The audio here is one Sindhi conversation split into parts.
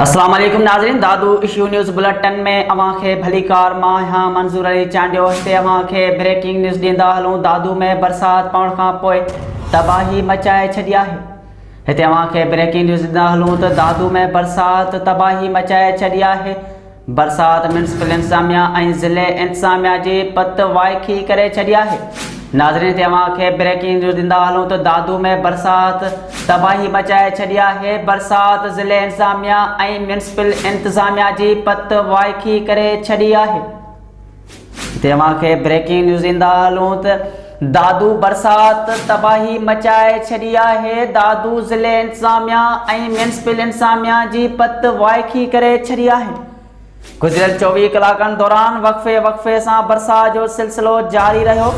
اسلام عليڪم ناظرين دادو اشو نيوز بلٽن ۾ اوهان کي ڀليڪار مان آهيان منظور علي چانڊيو هتي اوهان کي بريڪنگ نيوز ڏيندا هلون دادو ۾ برسات پوڻ کان پوء تباهي مچائي ڇڏي آهي هتي اوهان کي بريڪنگ نيوز ڏيندا هلون ته دادو ۾ برسات تباهي مچائي ڇڏي آهي برسات ميونسپل انتظاميا ۽ ضلعي انتظاميا جي پت وائکي ڪري ڇڏي آهي ناظرين تي اوهان کي بريڪنگ نيوز ڏيندا هلون ته دادو ۾ برسات تباهي مچائي ڇڏي آهي برسات ضلعي انتظاميا ۽ ميونسپل انتظاميا جي پت وائکي ڪري ڇڏي آهي توهان کي بريڪنگ نيوز ڏيندا هلون ته دادو برسات تباهي مچائي ڇڏي آهي، دادو ضلعي انتظاميا ۽ ميونسپل انتظاميا جي پت وائکي ڪري ڇڏي آهي، گذريل چوويهه ڪلاڪن دوران وقفي وقفي سان برسات جو سلسلو جاري رهيو،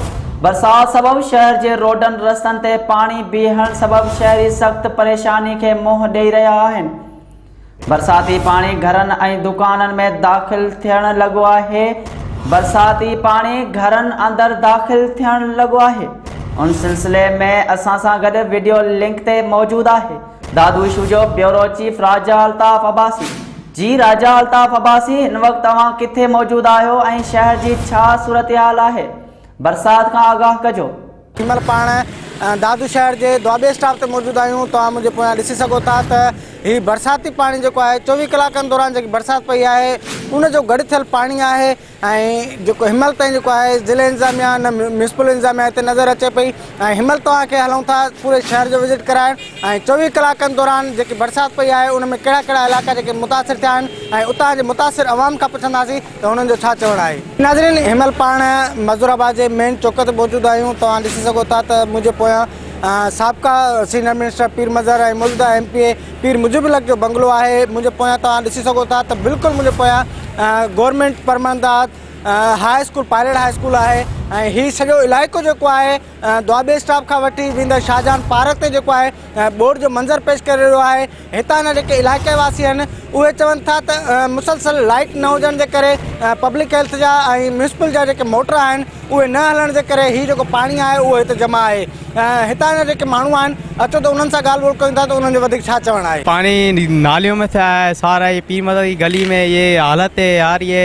برسات سبب شهر جي روڊن رستن تي پاڻي بيهڻ سبب شهري سخت پريشاني کي منهن ڏئي رهيا آهن. برساتي پاڻي گهرن ۽ دڪانن ۾ داخل ٿيڻ لڳو آهي برساتي پاڻي گهرن اندر داخل ٿيڻ لڳو آهي ان سلسلي ۾ اسان سان گڏ ويڊيو لنڪ تي موجود آهي دادو اشو جو بيورو چيف راجا الطاف عباسي جي راجا الطاف عباسي هن وقت توهان ڪٿي موجود آهيو ۽ شهر جي ڇا صورتحال آهي برسات کان آگاهه ڪجو هن مهل پاڻ دادو شهر جي دوآبي اسٽاپ تي موجود آهيون توهان منهنجي پويان ڏسي سگهو ٿا ته هي برساتي پاڻي جيڪو آهي چوويهه ڪلاڪن دوران جيڪي برسات پئي آهي ان جو گڏ ٿيل پاڻي آهي ۽ جيڪو هن مهل تائين جيڪو آهي ضلعي انتظاميا نه ميونسپل انتظاميا هتي نظر اچي پئي ۽ هن مهل توهان کي هلون ٿا پوري شهر جو وزٽ ڪرائڻ ۽ چوويهه ڪلاڪن دوران جيڪي برسات پئي آهي ان ۾ ڪهڙا ڪهڙا علائقا جيڪي متاثر ٿيا آهن ۽ اتان جي متاثر عوام کان پڇنداسين ته انهن جو ڇا چوڻ آهي. ناظرين هينمهل پاڻ معذور آباد جي مين چوڪ تي موجود آهيون توهان ڏسي سگهو ٿا ته منهنجي پويان سابقا سينئر منسٽر پير مظهر ۽ موجوده M P A Pir Mujib ul Haq جو بنگلو آهي منهنجي پويان توهان ڏسي سگهو ٿا ته بلڪل منهنجي پويان گورنمينٽ پرمنداد high school pilot high school آهي ۽ هي سڄو علائقو جيڪو آهي دوآبي اسٽاپ کان وٺي ويندڙ شاهجهان پارڪ تي جيڪو آهي ٻوڏ جو منظر پيش ڪري رهيو آهي هتان جا جيڪي علائقي واسي آهن اهي چون ٿا ته مسلسل لائٽ نه هجڻ جي ڪري پبلڪ هيلٿ جا ۽ ميونسپل جا جيڪي موٽر آهن اهي نه هلڻ جي ڪري هي جيڪو پاڻي آهي اهو هتي جمع آهي هتان جا جيڪي ماڻهو آهن اچو ته انهن سان ڳالهه ٻولهه ڪيون ٿا ته انهن جو وڌيڪ ڇا چوڻ آهي پاڻي ناليون ۾ ٿي آهي سارا هي پير مدد جي گلي ۾ هي حالت هي يار هي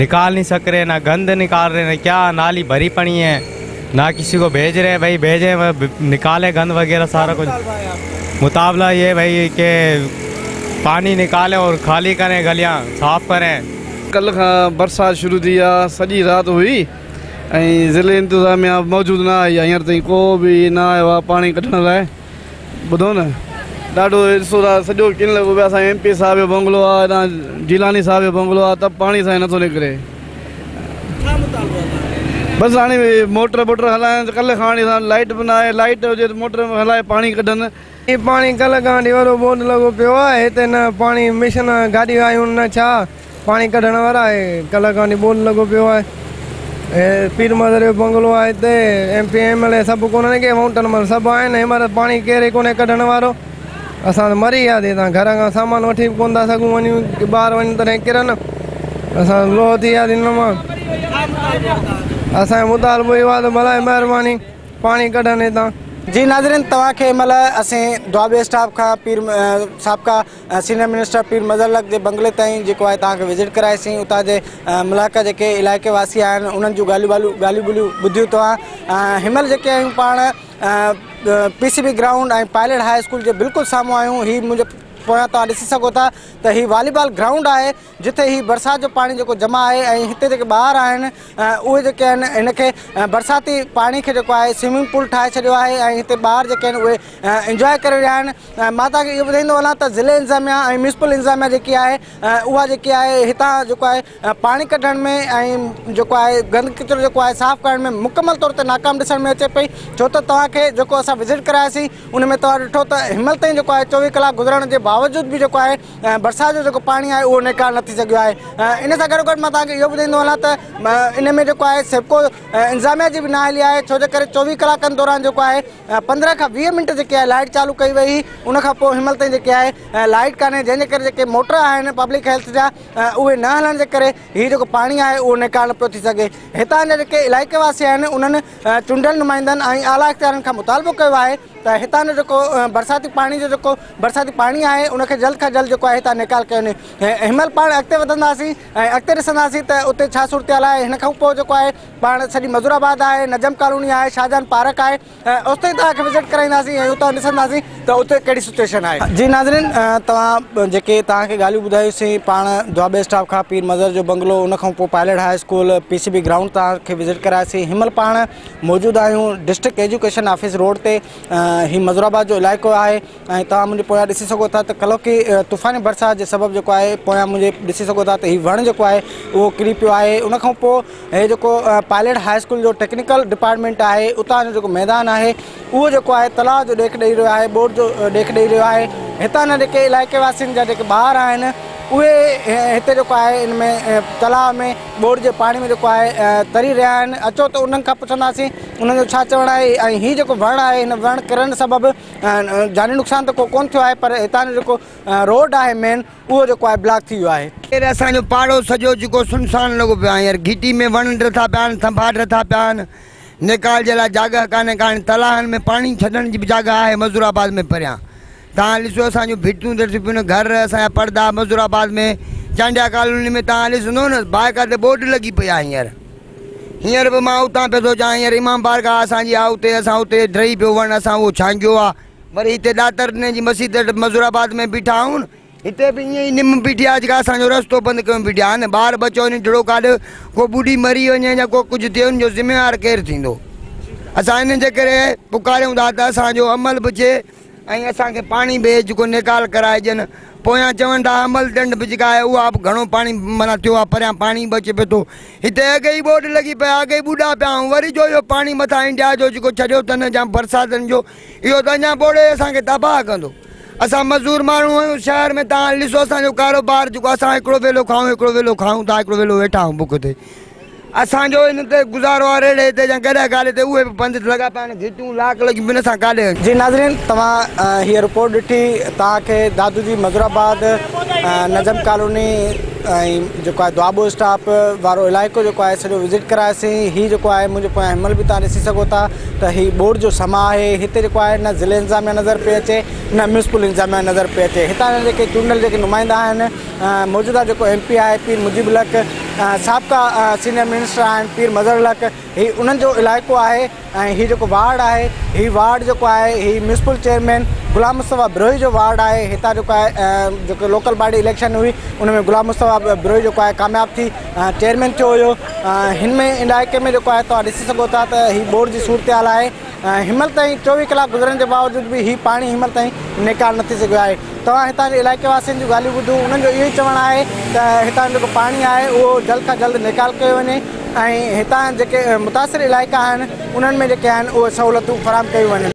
نڪال نھين سڪري نه گند نڪال رھي نه ڪيا نالي ڀري پڙي ھين نه ڪسي ڪو ڀيج رھي ڀئي ڀيجي نڪالي گند وغيره سارا ڪجھ مطابلا يي ڀئي ڪي پاڻي نڪالي اور خالي ڪري گليان صاف ڪري. ڪلھ کان برسات شروع ٿي آ سڄي رات ھئي ۽ ضلعي انتظاميا موجود نه آئي آ ھينئر تائين ڪو به نه آيو آ پاڻي ڪڍڻ لاء. ٻڌو نه ڏاڍو ڏسو ٿا سڄو ڪن لڳو پيو اسان ايم پي صاحب جو بنگلو آ هتان جيلاني صاحب جو بنگلو آ ته پاڻي سائين نٿو نڪري ڇا مطالبو آ توهان بس هاڻي موٽر بوٽر هلائن ته ڪل کان هاڻي لائيٽ به ناهي لائيٽ هجي ته موٽر هلائي پاڻي ڪڍن. هي پاڻي ڪل کان هاڻي وڏو بوڏ لڳو پيو آ هتي نه پاڻي مشن گاڏيون آيون نه ڇا. پاڻي ڪڍڻ وارا آهي ڪلهه کان وٺي ٻول لڳو پيو آهي هي پير مادر جو بنگلو آهي هتي M P M L A سڀ ڪونهن ڪي مائونٽن مئن سڀ آهن هي مهل پاڻي ڪير ئي ڪونهي ڪڍڻ وارو اسان ته مري وياسي هتان گهر کان سامان وٺي به ڪونه ٿا سگهون وڃون ٻار وڃن تڏهن ڪرن اسان لوهه ٿي وياسي هن مان اسان جو مطالبو اهو آهي ته برائي مهرباني پاڻي ڪڍن هتان جي ناظرين توهان کي هي مهل اسين دوابي اسٽاف کان پير سابقا سينيئر منسٽر پير مظهر لق جي بنگلي تائين جيڪو آهي توهان کي وزٽ ڪرائي سين اتان جي ملاڪا جيڪي علائقي واسي آهن انهن جون ڳالهيون ٻالهيون ڳالهيون ٻولهيون ٻڌيون توهان هن مهل جيڪي آهيون پاڻ P C B ground ۽ pilot high school جي بلڪل سامهون آهيون هي منهنجي پويان توهان ڏسي سگهو ٿا ته هي واليبال گرائونڊ آهي جتي هي برسات جو پاڻي جيڪو جمع آهي ۽ هتي جيڪي ٻار آهن اهي جيڪي آهن هن کي برساتي پاڻي کي جيڪو آهي سوئمنگ پول ٺاهي ڇڏيو آهي ۽ هتي ٻار جيڪي آهن اهي انجواء ڪري رهيا آهن مان توهان کي اهو ٻڌائيندو هلان ته ضلعي انتظاميا ۽ ميونسپل انتظاميا جيڪي آهي اها جيڪي آهي هتان جيڪو آهي پاڻي ڪڍڻ ۾ ۽ جيڪو آهي گند ڪچرو جيڪو آهي صاف ڪرڻ ۾ مڪمل طور تي ناڪام ڏسڻ ۾ اچي پئي ڇو ته توهان کي جيڪو اسان وزٽ ڪراياسين ان ۾ توهان ڏٺو ته هيمل تائين جيڪو آهي چوويهه ڪلاڪ گذرڻ جي باوجود به جيڪو آهي برسات جو جيڪو پاڻي آهي اهو نيڪال نه ٿي سگهيو آهي ان سان گڏو گڏ مان توهان کي اهو ٻڌائيندو هلان ته ان ۾ جيڪو آهي سيپڪو انتظاميا جي بي نااهلي آهي ڇو جي ڪري چوويهه ڪلاڪن دوران جيڪو آهي پندرهن کان ويهه منٽ جيڪي آهي لائيٽ چالو ڪئي وئي هئي ان کان پوء هنمهل تائين جيڪي آهي لائيٽ ڪانهي جنهن جي ڪري جيڪي موٽر آهن پبلڪ هيلٿ جا اهي نه هلڻ جي ڪري هي جيڪو پاڻي آهي اهو نيڪال نه پيو ٿي سگهي هتان جا جيڪي علائقي واسي آهن انهن چونڊيل نمائندن ۽ اعليٰ اختيارين کان مطالبو ڪيو آهي ته هتان جو جيڪو برساتي پاڻي جو جيڪو برساتي پاڻي آهي ان کي جلد کان جلد جيڪو آهي هتان نيڪال ڪيو وڃي هن مهل پاڻ اڳتي وڌنداسين ۽ اڳتي ڏسنداسين ته اتي ڇا صورتحال آهي هن کان پوء جيڪو آهي پاڻ سڄي مزور آباد آهي نجم ڪالوني آهي شاهجهان پارڪ آهي اوس تائين توهان کي وزٽ ڪرائينداسين ۽ اتان ڏسنداسين ته اتي ڪهڙي سچويشن آهي جي ناظرين توهان جيڪي توهان کي ڳالهيون ٻڌايوسين پاڻ دوابي اسٽاپ کان پير مظهر جو بنگلو ان کان پوء pilot high school P C B ground توهان کي وزٽ ڪراياسين هن مهل پاڻ موجود آهيون ڊسٽرڪٽ ايجوڪيشن آفيس روڊ تي هي مزور آباد جو علائقو آهي ۽ توهان منهنجي پويان ڏسي سگهو ٿا ته ڪلوڪي طوفاني برسات جي سبب جيڪو آهي پويان منهنجي ڏسي سگهو ٿا ته هي وڻ جيڪو آهي اهو ڪري پيو آهي ان کان پوء هي جيڪو پائليٽ هاء اسڪول جو ٽيڪنيڪل ڊپارٽمينٽ آهي اتان جو جيڪو ميدان آهي اهو جيڪو آهي تلاء جو ڏيک ڏيئي رهيو آهي ٻوڏ جو ڏيک ڏيئي رهيو آهي هتان جا جيڪي علائقي واسين جا جيڪي ٻار آهن اهي هتي جيڪو آهي ان ۾ تلاء ۾ ٻوڙ جي پاڻي ۾ جيڪو آهي تري رهيا آهن اچو ته انهن کان پڇنداسين انهن جو ڇا چوڻ آهي ۽ هي جيڪو وڻ آهي هن وڻ ڪرڻ سبب جاني نقصان ته ڪو ڪون ٿيو آهي پر هتان جو جيڪو روڊ آهي مين اهو جيڪو آهي بلاڪ ٿي ويو آهي. ڪير اسان جو پاڙو سڄو جيڪو سنسان لڳو پيو آهي هينئر گهٽي ۾ وڻ ڊر ٿا پيا آهن ٿنڀا ڊر ٿا پيا آهن نيڪال جي لاء جاڳهه ڪانهي ڪا هاڻي تلاهن ۾ پاڻي ڇڏڻ جي به جاڳهه آهي مظور آباد ۾ پريان توهان ڏسو اسان جون ڀتيون ته ٽپيون گهر اسان جا پڙدا مظور آباد ۾ چانڊيا ڪالوني ۾ توهان ڏسندو نه بائيڪا تي بورڊ لڳي پئي آهي هينئر هينئر به مان اتان پيو ٿو چان هينئر امام بارگاهه اسان جي آهي اتي اسان اتي ڊهي پيو وڻ اسان اهو ڇانگيو آهي وري هتي ڏاتر جي مسجد مظور آباد ۾ بيٺا آهيون هتي به ائين ئي نم بيٺي آهي جيڪا اسانجو رستو بند ڪيو بيٺي آهي نه ٻار ٻچو وڃي ڊڙو ڪاڏ ڪو ٻڏي مري وڃي يا ڪو ڪجهه ٿئي ان جو ذميوار ڪير ٿيندو اسان ان جي ڪري پڪاريون ٿا ته اسانجو عمل به چي ۽ اسان کي پاڻي به جيڪو نيڪال ڪرائي ڏين پويان چون ٿا عمل ڊنڊ به جيڪا آهي اها به گهڻو پاڻي معنيٰ ٿيو آهي پريان پاڻي به اچي پيو ٿو هتي اڳ ئي ٻوڏ لڳي پئي اڳ ئي ٻوڏا پيا آهيون وري جو اهو پاڻي مٿان انڊيا جو جيڪو ڇڏيو اٿن جا برساتن جو اهو ته اڃا ٻوڙي اسان کي تباهه ڪندو اسان مزور ماڻهو آهيون شهر ۾ تان ڏسو اسان جو ڪاروبار جيڪو اسان هڪڙو ويلو کائون هڪڙو ويلو کائون ٿا هڪڙو ويلو ويٺا آهيون بک تي اسان جو ان تي گذارو آ ريڙهي تي يا گڏهه گاڏي تي اهي به بند ٿي لڳا پيا آهن گهٽيون لاڪ لڳيون بنهه سان ڪاڏي هنجي. جي ناظرين توهان هيء رپورٽ ڏٺي توهان کي دادو جي مظور آباد نجم ڪالوني ۽ جيڪو آهي دوآبو اسٽاپ وارو علائقو جيڪو آهي سڄو وزٽ ڪرائيسين هي جيڪو آهي منهنجي پويان هيمل به توهان ڏسي سگهو ٿا ته هي ٻوڏ جو سما آهي هتي جيڪو آهي نه ضلعي انتظاميا نظر پئي اچي نه ميونسپل انتظاميا نظر پئي اچي هتان جا جيڪي چونڊيل جيڪي نمائندا آهن موجوده جيڪو ايم پي آهي پير مجيب الحق سابقا سينيئر منسٽر آهن پير مظهر الحق هي انهن جو علائقو آهي ۽ هي جيڪو وارڊ آهي هي وارڊ جيڪو آهي هي ميونسپل چيئرمين غلام مصطفيٰ بروهي جو وارڊ آهي هتان جيڪو آهي جيڪو لوڪل باڊي اليڪشن هئي ان ۾ غلام مصطفيٰ بروهي جيڪو آهي ڪامياب ٿي چيئرمين ٿيو هيو هن ۾ علائقي ۾ جيڪو آهي تون ڏسي سگهو ٿا ته هي ٻوڙ جي صورتحال آهي هينمهل تائين چوويهه ڪلاڪ گذرڻ جي باوجود به هي پاڻي هينمهل تائين نيڪال نه ٿي سگهيو آهي توهان هتان جي علائقي واسين جون ڳالهيون ٻڌو انهن جو اهو ئي چوڻ آهي ته هتان جو جيڪو پاڻي آهي اهو جلد کان جلد نيڪال ڪيو وڃي ۽ هتان جيڪي متاثر علائقا آهن انهن ۾ جيڪي آهن اهي سهولتون فراهم ڪيون وڃن.